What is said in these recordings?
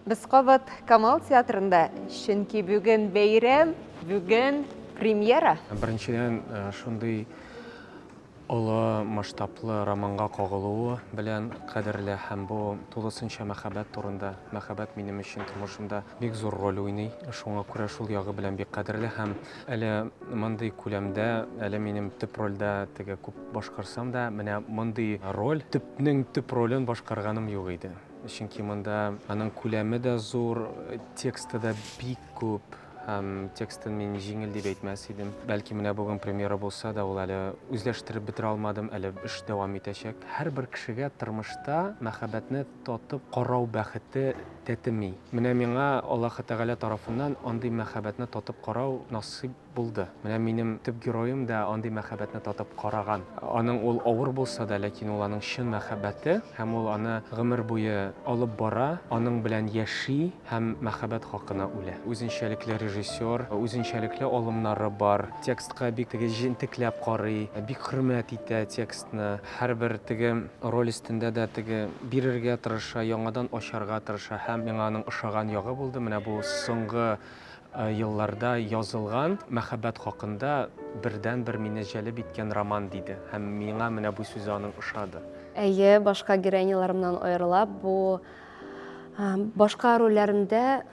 Без кабат Камал театрында, чөнки бүген бәйрәм, бүген премьера! Беренчедән, шундый олы масштаблы романга кагылуы белән кадерле һәм бу тулысынча мәхәббәт турында. Мәхәббәт минем өчен тормышымда бик зур роль уйный, шуңа күрә шул ягы белән бик кадерле һәм әле мондый күләмдә, әле минем төп рольдә теге күп башкарсам да, менә мондый роль, төпнең төп ролен башкарганым юк иде. Чөнки монда аның күләме дә зур, тексты да бик күп һәм текстын мин җиңел дип әйтмәс идем. Бәлки менә бүген премьера булса да, ул әле үзләштереп бетерә алмадым, әле эш дәвам итәчәк. Һәрбер кешегә тормышта мәхәббәтне татып карау бәхете тәтеми. Менә миңа Аллаһы Тәгалә тарафыннан андый мәхәббәтне татып карау насыйп Булды. Менә минем төп героем да андый мәхәббәтне татып караган. Аның ул авыр булса да, ләкин ул аның чын мәхәббәте һәм ул аны гомер буе алып бара, аның белән яши һәм мәхәббәт хакына үлә. Үзенчәлекле режиссер, үзенчәлекле алымнары бар, текстка бик теге җентекләп карый, бик хөрмәт итә текстны, һәрбер теге роль өстендә дә теге бирергә тырыша, яңадан ачарга тырыша һәм миңа аның ошаган ягы булды, менә бу соңгы елларда язылган мәхәббәт хакында бердәнбер мине җәлеп иткән роман, диде. Һәм миңа менә бу сүзе аның ошады. Әйе, башка героиняларымнан аерыла, бу башка рольләремдә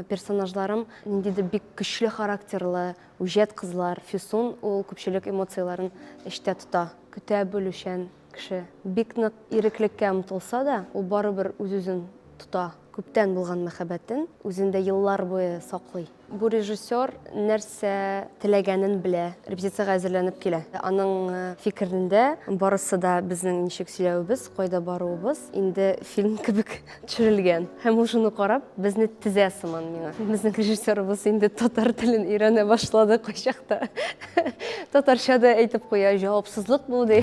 персонажларым ниндидер бик көчле характерлы, үҗәт кызлар. Фисун ул күпчелек эмоцияләрен эчтә тота, көтә белүчән, Кеше бик нык иреклеккә омтылса да, ул барыбер үз-үзен тота, күптән булган мәхәббәтен үзендә еллар буе саклый. Бу режиссер нәрсә теләгәнен белә, репетициягә әзерләнеп килә. Аның фикерендә, барысы да безнең ничек сөйләвебез, кайда баруыбыз инде фильм кебек. төшерелгән һәм ул шуны карап безне тезә сыман миңа безнең режиссерыбыз инде татар телен өйрәнә башлады кайчакта татарча да әйтеп куя җавапсызлык бу ди